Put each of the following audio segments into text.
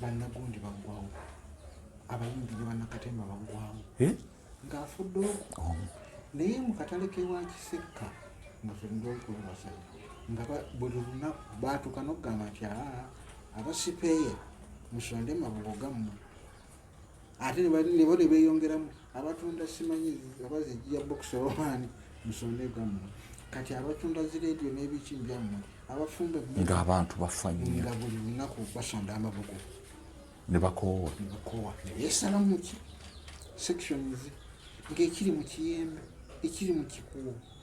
bannagundi baggwawo abayimbi ne bannakatemba baggwawo eh? ng'afudde oku naye mu katale kewa kisekka nga fenna okulabasaya nga buli lunaku baatuuka n'okugamba nti aa abasipeeye musonde mabugo gammwe ate nebo ne beeyongeramu abatunda simanyi oba zijja bokisi obaani musonde gammwe kati abatunda zi leediyo n'ebiki byammwe abafumbe ng'abantu bafa nnyo nga buli lunaku basonda amabugo ne bakoowa ne bakoowa ne beesalamu ki sections ng'ekiri mu kiyembe ekiri mu kikuubo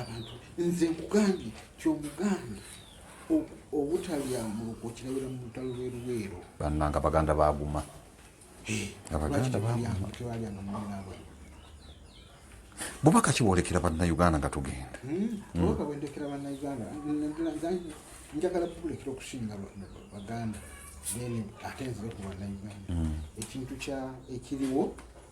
abantu nze nkugambye kyomugambye obutalya mulogo kirabira mu lutalo lweruweero bannanga baganda baguma abaganda baguma bubaka kiwolekera bannayuganda nga tugenda bubaka bwendekera bannayuganda njagala bubulekera okusinga baganda then ate nzibe ku bannayuganda ekintu kya ekiriwo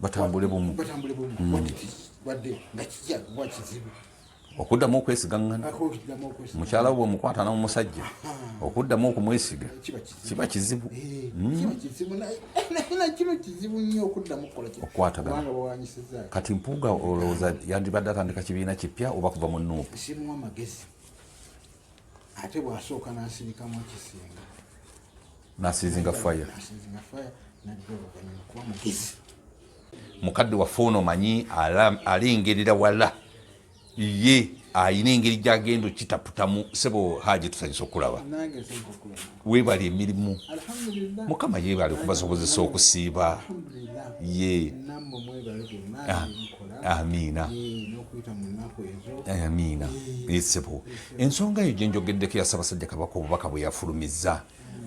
batambule bumu batambule bumu mm. what it is wadde nga kijja kuba kizibu okuddamu okwesigaŋŋana mukyala we omukwata n'omusajja okuddamu okumwesiga kiba kizibu eh, hmm? kati mpuuga olowooza yandibadde atandika kibiina kipya oba kuva mu nuupu ate bwasooka n'asirikamu ekisinga nasizinga fire mukadde waffe ono manyi alengerera wala ye ayina engeri gyagenda okitaputamu sebo haji tusanyisa okulaba webali emirimu mukama yebali okubasobozesa okusiiba ye ah, amiina eh, amiina eh, sebo ensonga eyo gyenjogeddeko yasabasajja kabaka obubaka bweyafulumiza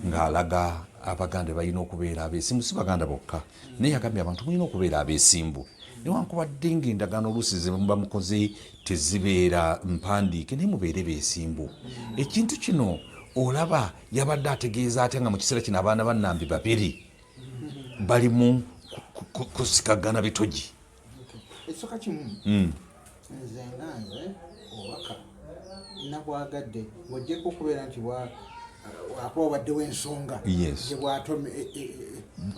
ng'alaga abaganda balina okubeera abeesimbu si baganda bokka naye yagambye abantu mulina okubeera abeesimbu newankubadde ng'endagaano oluusi zemuba mukoze tezibeera mpandiike naye mubeere beesimbu ekintu kino olaba yabadde ategeeza atya nga mu kiseera kino abaana bannambi babiri bali mu kusikagana bitogi ekisooka kimu hmm. nze nga nze obubaka nabwagadde ng'ogyeko okubeera nti wakuba obaddewo ensonga gyebwatome e, e, e,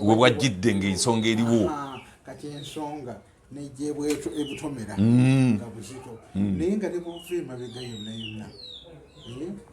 we bwajjidde ng'ensonga eriwo kati ensonga negyebwebutomera hmm. nga buzito hmm. naye nga ne bwova emabega yonna yonna eh?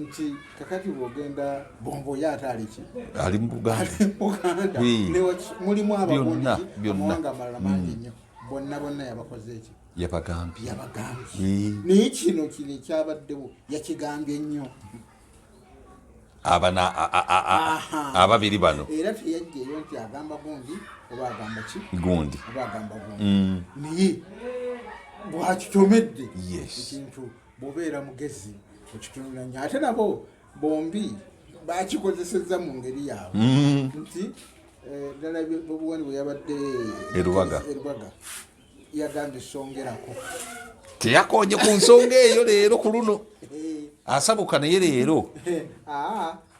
nti kakati bwogenda bombo ye ate aliki ali mubuganda mulimu ababundi amawanga amalala mangi nnyo mm. bonna bonna yabakoze ekyo yabagambye yabagambye naye kino kino ekyabaddewo yakigambye nnyo abana ababiri bano era teyajjeyo nti agamba gundi oba agamba ki gundi oba agamba gundi mm. naye bwakitomedde ekintu bwobeera mugezi mukitunula nyo ate nabo bombi bakikozeseza mu ngeri yaabwe mm. nti eh, ddala bobuwani bwe yabadde erubaga yagambye songerako teyakonye ku nsonga eyo leero ku luno eh. asabuka naye leero eh, ah.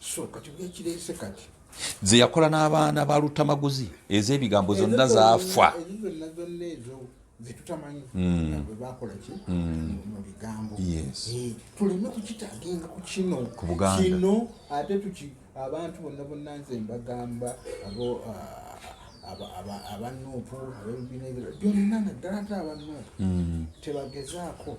so kati bwekirese kati ze yakola n'abaana ba lutamaguzi ez'ebigambo zonna zaafa zetutamanyi hmm. bwebakola ki hmm. mu bigambo eh, tuleme kukitagenga ku kino kino ate tuki abantu bonna bonna nze mbagamba abo ah, abanuupu abebibiina ebira byonna naddala ate abanuupu hmm. tebagezaako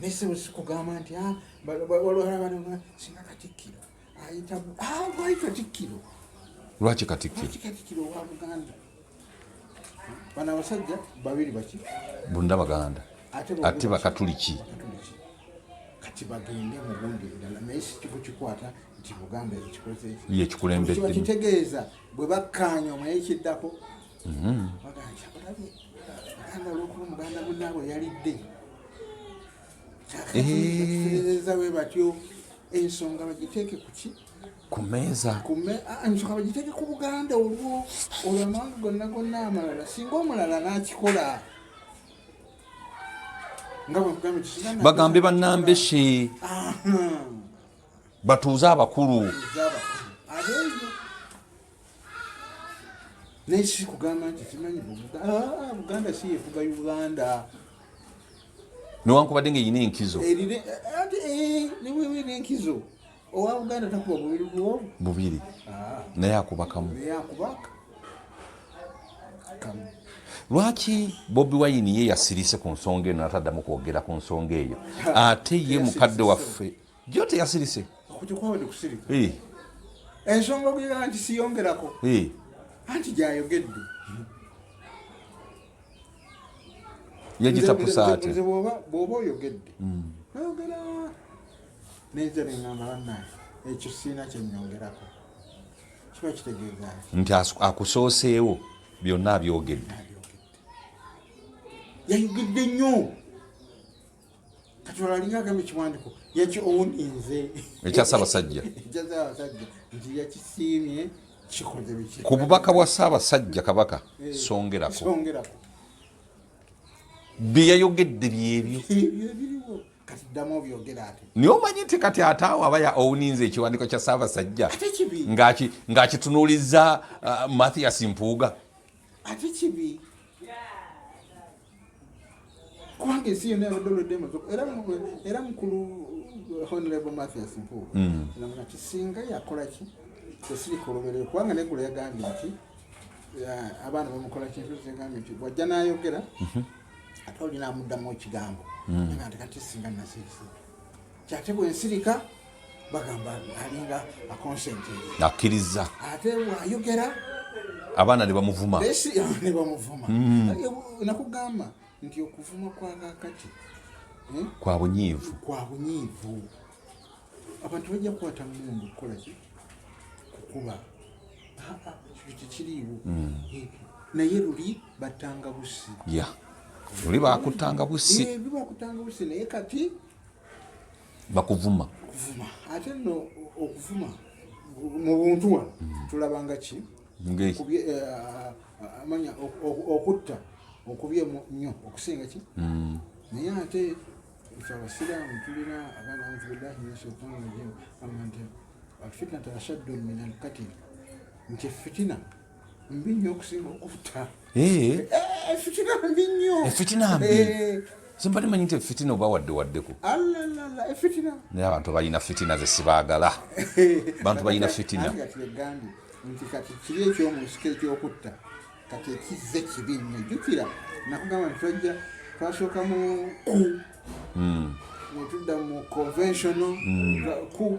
naye sebo sikugamba nti ah, walwalabana singa katikkiro ayitamu ah, lwaki katikkiro lwaki katikkiro wa buganda bano abasajja babiri baki bonna baganda ate bakatuliki kati bagende mubundi endala naye sikiku kikwata nti buganda yekikulembedde kitegeeza bwe bakkaanya omwekiddako Mm-hmm. ensonga bagiteeke kuki ku meeza ah, ensonga bagiteeke ku buganda olwo olwo amawanga gonna gonna amalala singa omulala n'akikola bagambe banambe she batuuze abakulu naye kiki kugamba nti kimanyi ah, buganda si yefuga uganda newankubadde nga erina enkizo erina eh, eh, enkizo owa buganda takuba bubiri bwo bubiri ah. naye akubakamu lwaki bobi wayini ye yasirise ku nsonga eno nataddamu kwogera ku nsonga eyo ate ye mukadde waffe Jjo teyasirise. Okujja kwabadde kusirika. Eh. Ensonga ogiraba nti siyongerako. Eh. Anti gyayogedde. Yagitapusa ate. Nze bw'oba bw'oba oyogedde. Mm. Nayogera n'enze ne ngamba bannaye ekyo siina kye nnyongerako. Kiba kitegeeza ki? Nti akusooseewo byonna abyogedde. Yayogedde nnyo. katulalinga agamba ekiwandiko yaki owuninze ekya ssaabasajja ekya ssaabasajja nti yakisiimye kikoze biki ku bubaka bwa ssaabasajja kabaka eh, songerako songerako bye yayogedde byebyo naye omanyi nti kati ate awo aba owuninza ekiwandiiko kya ssaabasajja ng'akitunuuliza uh, mathias mpuuga ate kibi kubanga ensi yonna yabadde olwedde emazoko era mukulu uh, honorable mathias mpuuga mm. namuna ti singa yakolaki esirika oluberero kubanga negula yagambye nti uh, abaana bamukola kintu zigambye nti wajja nayogera mhm. ate olina amuddamu ekigambo mm. nga nti kati singa nasirisa kyate bwensirika bagamba alinga akonsenti akkirizza ate ayogera abaana nebamuvuma nebamuvuma mm. nakugamba nti okuvuma kwakakati eh? kwa bunyiivu kwa bunyiivu abantu bajja kukwata mundu okukolaki kukuba tekiriiwo mm. eh, naye luli battanga busi luli bakutanga busi eh, bakutanga busi naye kati bakuvuma okuvuma ate no okuvuma mu buntu wano hmm. tulabanga ki kubye eh, eh, amanya okutta okubye nnyo okusinga ki hmm. naye ate fe abasiraamu tulina abaana auzubillahi min shaitani rajim kama nti alfitnatu ashaddu min alkatil nti fitina mbi nnyo okusinga okutta efitina eh, eh, mbi nnyo efitina mbi eh. simbadde manyi nti efitina oba wadde waddeko naye abantu balina fitina ze sibaagala bantu balina fitina nti kati kiri ekyomunsika ekyokutta kati ekizze kibi nnyo jjukira nakugamba nti twajja twasooka mu ku hmm. netudda mu conventional hmm. ku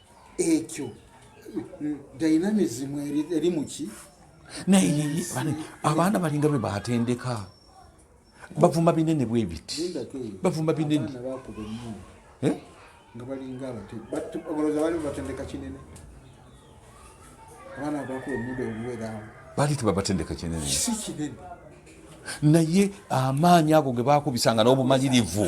ekyo dynamism eri muki naye abaana balinga bwe batendeka bavuma binene bwebiti bavuma binene eh? nga balinga abateoloza bali batendeka kinene abaana bakuba omuda omuweraawo bali tebabatendeka kinene si kinene naye amaanyi ago ge bakubisanga n'obumanyirivu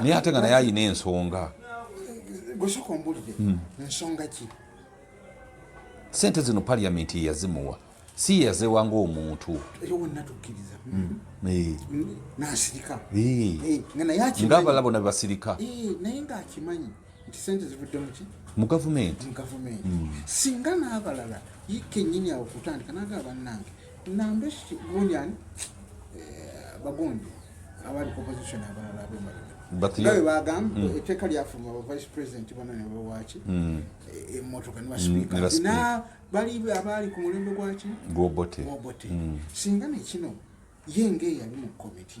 naye ate nga naye ayina ensonga gwesoka ombulire hmm. nsonga ki sente zino parliament yeyazimuwa si yeyazewa ngaomuntu ngaabala bona bebasirika naye ngaakimanyi nti sente zivudde muki mu gavumenti hmm. singa n'abalala ye kenyini awo kutandika naga bannange Nambeshti Gunyan eh, bagundi abali opposition abalala abemaliga nawe bagamba hmm. etteeka lyafuluma ba vice president bona ne bawaaki hmm. eh, emmotoka ne basipiika hmm, na bali abaali ku mulembe gwaki gwobote singa nekino ye ng'eyali mu komiti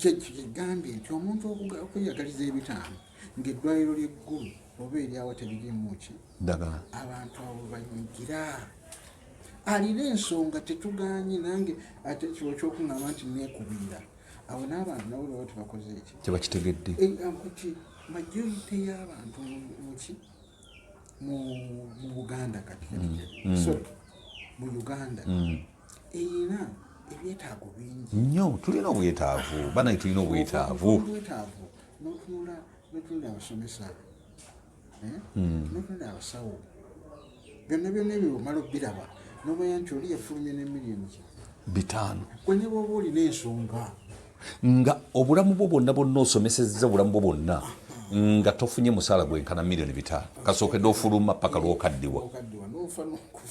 Kyekyo kyegambye nti omuntu okweyagaliza ebitaano ng'eddwaliro ly'eggulu oba eryawa teririmuki ddagala abantu abo banyigira alina ensonga tetuganye nange ate kiwo kyokuŋamba nti nekubira awo n'abantu nabo baba tebakoze eki tebakitegedde eh, majorite y'abantu muki mu buganda kati mm. Mm. so mu uganda mm. erina ebyetaago bingi nyo tulina obwetaavu banaye tulina obwetaavu obwetaavu notunula notunula abasomesa eh? notunula abasawo byonna byonna ebyo omala obiraba nomanya nti oli yafulumye ne miliyoni bitaano gwe ne bwoba olina ensonga nga obulamu bwo bwonna bwonna osomesezza obulamu bwo bwonna nga tofunye musaala gwenkana miliyoni bitaano kasookedde ofuluma paka lwokaddiwa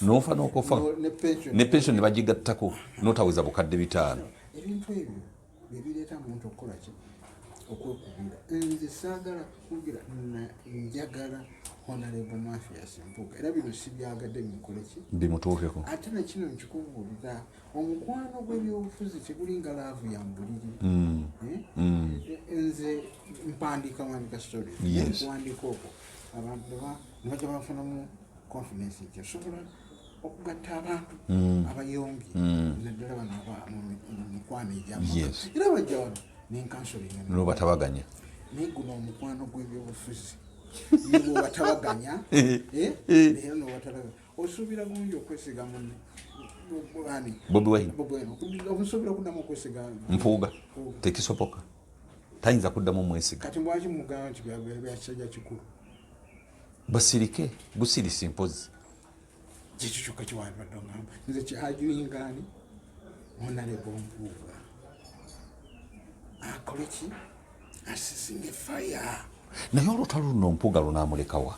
nofa nokufa ne pension ne bagigattako notaweza bukadde bitaano okwekubira nze saagala kukubira njagala honarebo mafias mpuga era bino sibyagadde binkoleki bimutuukeko ate nakino nkikubuulira omukwano gw'ebyobufuzi tegulinga laavu ya mbuliri mm. Eh? Mm. Eh, nze mpandiika wandika story okuwandika okwo abantu nebajja bafunamu confidence nti osobola okugatta abantu mm. abayongi naddala bano mumikwano egyamu era bajja wano nenkansolinga nobatabaganya naye guno omukwano gw'ebyobufuzi nobatabaganya eh? naye nobatabaganya osuubira bulungi okwesiga munne bobi wine osuubira kuddamu okwesiga mpuuga tekisoboka tayinza kuddamu omwesiga kati lwaki mugamba nti byakisajja kikulu basirike busirisi mpozi kyekyo kyokka kiwandibadde ogamba nze kyajuyingaani onalebo mpuuga akole ki asisinge faya naye olutalo luno mpuuga lunamulekawa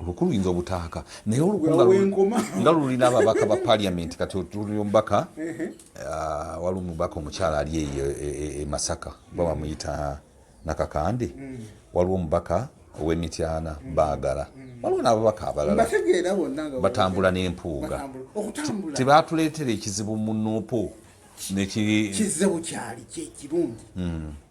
obukulu yinza obutaaka naye nga lulina ababaka ba paliamenti kati otuli omubaka ah, wali omubaka omukyala ali eyo e, e, e masaka oba bamuyita nakakande mm. waliwo omubaka owemityana mm. bagala mm. waliwo n'ababaka abalala batambula n'empuuga tebatuleetera ekizibu mu nuupu nekizze bukyali kyekirungi hmm.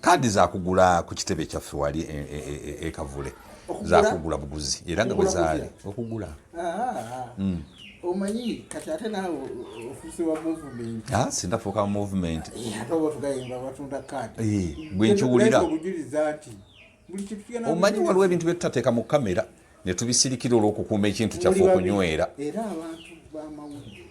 kaadi zakugula ku kitebe kyaffe wali e, e, e, ekavule zakugula buguzi era nga bwezaali okugula hmm. omanyi kati ate nawe ofuse wa movement ah, sindafuuka mu movement eh, ate oba tugayimba batunda kaadi eh, bwenkiwulira obujuliza nti omanyi waliwo ebintu byetutateeka mu kamera netubisirikira olwokukuuma ekintu kyaffe okunywera era abantu bamawulire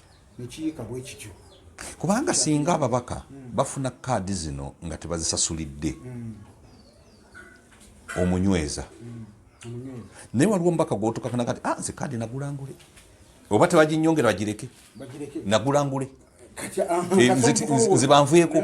nekiyiika bwe kityo kubanga singa ababaka hmm. bafuna kaadi zino nga tebazisasulidde hmm. omunyweza hmm. naye waliwo omubaka gwotukafuna kati ah, nze kaadi nagulangule oba tebaginyongera bagireke nagulangule ah, eh, nzibanvuyeko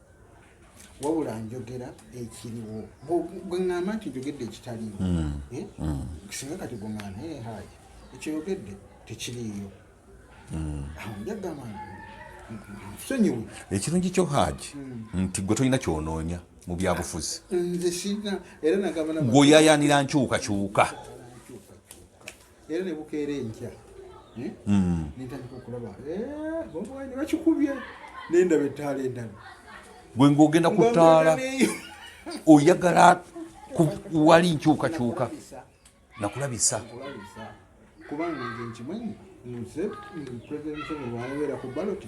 wabula njogera ekiriwo gwe ŋŋamba nti njogedde ekitaliwo hmm. Eh? Hmm. singa kati gwe ŋŋamba naye hayi ekyeyogedde tekiriiyo hmm. awo njagamba nsonyiwe ekirungi kyo haji nti gwe tolina kyonoonya mu byabufuzi nze sirina era nagamba gweoyayaanira nkyukakyuka era ne bukeera enkya eh? mm. nentandika okulaba eh, ne bakikubye nendaba ettaala endala gwe ngaogenda ku ttaala oyagala wali nkyukakyuka nakulabisa kubanga nze nkimanyi nze president museveni wanabeera ku baloti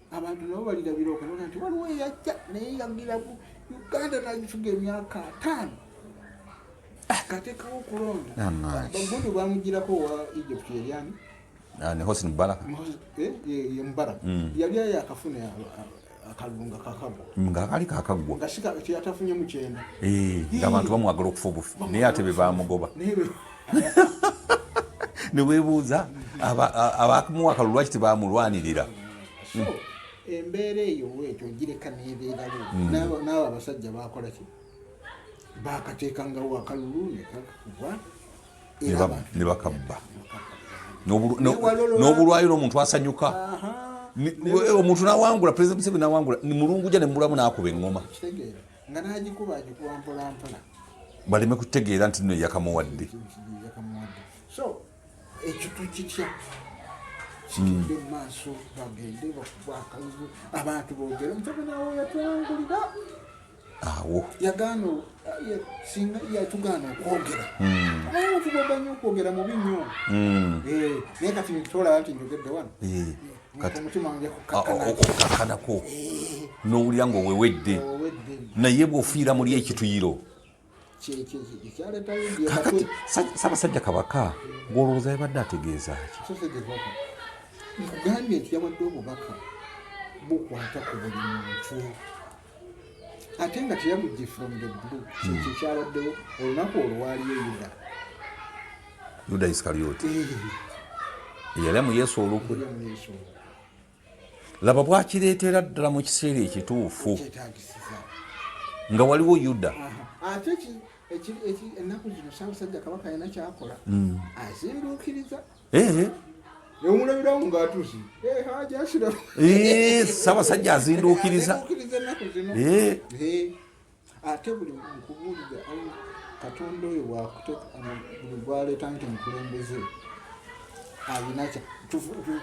abantu nabo balirabira okubona nti waliwo eyajja naye yagira ku uganda nagifuga emyaka ataano akatekawo okulonda bagundi bamugirako wa egypt yeryani ah, ne hosin bala eh, ye mubara mm. yali ayo akafuna akalulu nga kakagwa nga kali kakagwa nga sika teyatafunye mukyenda eh, nga abantu bamwagala okufa obufi naye ate bebamugoba newebuuza abamuwa akalulu lwaki tebamulwanirira hmm. embeera eyo wetyo ogireka nebeerawo hmm. naawe abasajja bakolaki bakateekangawo akalulu nekakubwa ne bakabba n'obulwayo n'omuntu asanyuka omuntu nawangula president museveni nawangula mulunguja nemulamu nakuba eŋoma nga n'agikuba agikuba mpolampola baleme kutegeera nti no yakamuwadde so ekyo tukitya kigende hmm. mumaaso bagende bakuba akalulu abantu bogere mutabanawo yatwangulira awo yagaana singa yatugaana okwogera hmm. abantu babanyo okwogera mubi nyo hmm. eh, naye kati nitolaba nti njogedde wano eh. okukakkanako n'owulira nga owewedde naye bw'ofiira muli ekituyiro kakati sabasajja kabaka gwolowooza yabadde ategeeza ki nkugambye nti yawadde obubaka bukwata ku buli muntu ate nga teyamugye from the blue kyekyo hmm. kyabaddewo olunaku olwaliyo yuda yuda iskarioti yali mu yesu olukwe laba bwakireetera ddala mu kiseera ekituufu nga waliwo yuda ate ennaku zino saabasajja kabaka alina kyakola hmm. azinduukiriza eh. ewulabiramu ngaatuzi eh, sabasajja azinduukiriza ate buli nkubuulira katonda oyo buli gwaleeta nti mukulembeze alina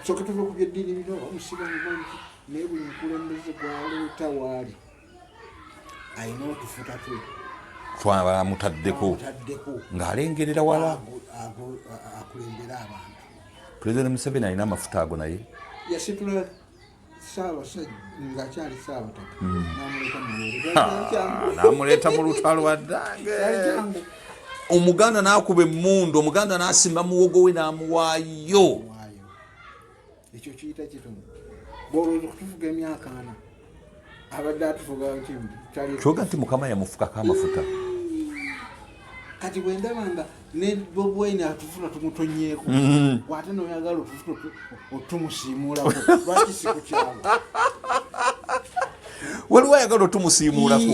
soke tuva ku byeddiini bino omusiba mumanyi naye buli mukulembeze gwaleeta waali alina otufuta twe twabalamutaddeko ng'alengerera wala akulembera abantu pulezidenti museveni alina amafuta ago naye yasitula saabasajja ngaakyali saabataka hmm. namuleeta mu lutalo addange omuganda n'akuba emmundu omuganda n'asimba muwogo we n'amuwaayo ekyo kiyita kitono bwolowooza okutufuga emyaka ana abadde atufuga kimu kyoga nti mukama yamufukako amafuta kati bwendaba nga ne bobwaine atufuna tumutonyeeko mm-hmm. wate noyagala otufuna otumusiimuulako lwaki sikukyalo waliwo ayagala otumusiimuulako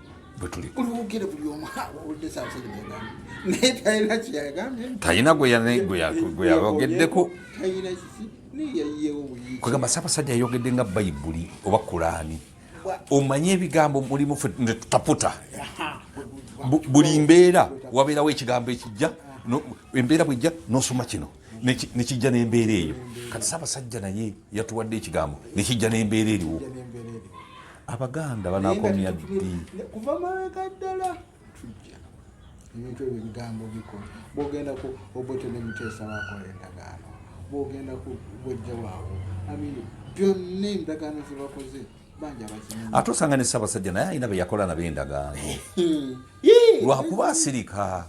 talina gweyayogeddeko kwegamba saabasajja yayogedde nga bayibuli oba kulaani omanye ebigambo mulimu fe netutaputa buli mbeera wabeerawo ekigambo ekijja embeera bwejja nosoma kino nekijja nembeera eyo kati saabasajja naye yatuwadde ekigambo nekijja nembeera eriwo abaganda banakomya ddi kuva mabega ddala ebintu ebyo ebigambo bikola bwogenda ku obote ne muteesa wakola endagaano bwogenda ku bwejja waawo amini byonna endagaano zebakoze banja bakimanyi ate osanga ne ssabasajja naye alina beyakola nabo endagaano lwakuba asirika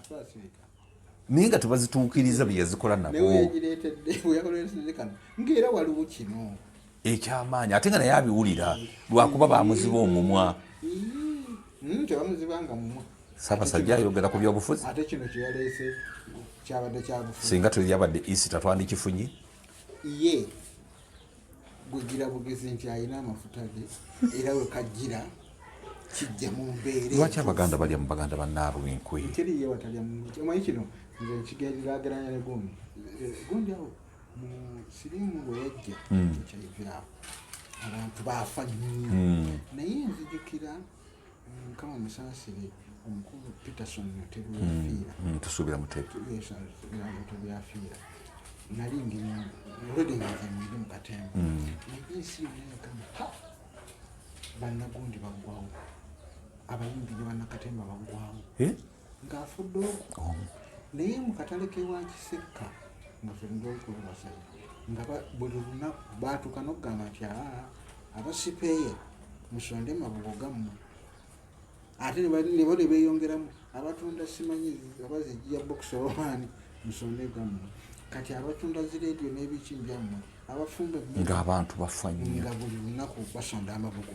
naye nga tebazituukiriza byeyazikola nabo ngaera waliwo kino ekyamaanyi ate nga naye abiwulira lwakuba bamuziba omumwa hmm, tebamuzibanga mumwa sabasajja ayogera ku byobufuzi ate kino kyeyaleese kyabadde kyabufuzi singa teyabadde isi tatwandikifunye ye gwegira bugezi nti alina amafuta ge era wekajjira kijja mu mbeere lwaki abaganda balya mu baganda bannaabwe enkwe teriyewatalya omanyi kino nze nkigerirageranya ne gundi eh, gundi awo siriimu bwe yajja hmm. kyayivirawo abantu baafa nnyo hmm. naye nzijukira mukama mm, musaasire omukulu peterson mutebi yafiira hmm. tusuubira mutebimutebi yafiira nali ndi olwedde nga nze mwiri mu katemba naye ensi yonna yakama bannagundi baggwawo abayimbi ne bannakatemba baggwawo eh? ng'afudde oku naye mu katale kewa kisekka nga fenga okulabasa nga buli lunaku baatuka n'okugamba nti aa abasipeeya musonde mabugo gammwe ate nebo ne beeyongeramu abatunda simanyi abazijiya bokisi obaani musonde gammwe kati abatunda zi leediyo n'ebiki byammwe abafumbe ng'abantu bafa nnyo nga buli lunaku basonda amabugo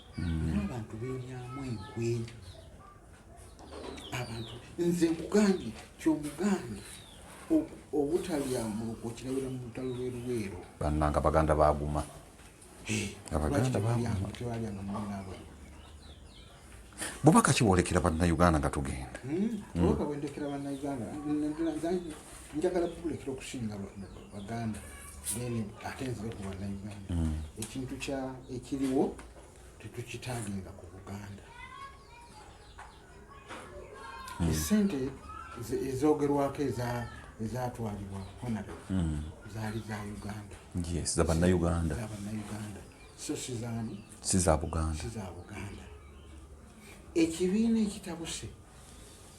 mm. abantu benyamu enkwe abantu nze nkugambye kyomugambye obutalya muko kirabira mu lutalo lweruweero bannanga baganda baguma abaganda baguma bubaka kibwolekera bannayuganda nga tugenda njagala bubulekera okusinga baganda then ate nzibe ku bannayuganda mm. ekintu kya ekiriwo tetukitaginga ku buganda mm. esente ezogerwako ezatwalibwa honore mm. zaali za uganda zabannayuganda so sizani siza buganda ekibiina ekitabuse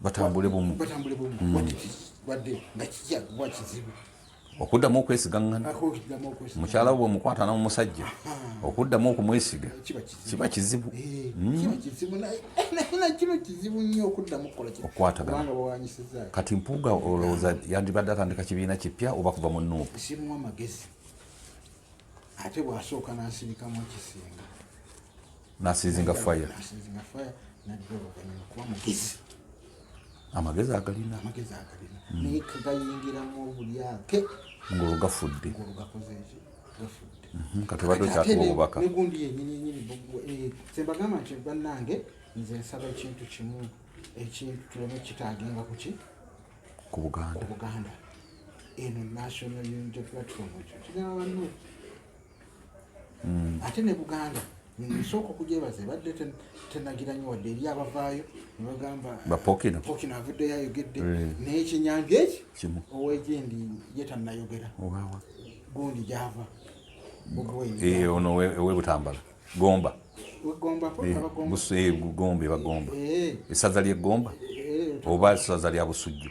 batambule bumu batambule bumu mm. what it is badde nga kijja kuba kizibu okuddamu okwesigaŋŋana mukyala bwe omukwata n'omusajja okuddamu okumwesiga kiba kizibu eh, hmm? kati mpuuga olowooza yandibadde atandika kibiina kipya oba kuva mu nuupu ate bwasooka nansirikamu ekisinga nasizinga fire nasizinga fire nadda oluvannyuma kuba mugezi amagezi agalina amagezi agalina hmm. naye kegayingiramu obulyake ngolwo gafudde ngolwo gakoze eki gafudde mhm, kati obadde okyatuwa obubaka negundi yenyini yenyini eh, sembagamba nti bannange nze nsaba ekintu kimu ekintu tuleme kitaagenga kuki ku buganda obuganda eno national unity platform ekyo kigamba banno mm. ate ne buganda nsooka okugyebaza ebadde tenagira nyo wadde eri abavaayo nebagamba bapokino avuddeyo ayogedde eh. naye kyenyanja eki owegyendi ye tanayogera gundi gyava eh, ono owebutambala gomba gomba ebagomba esaza lyegomba oba esaza lya busujju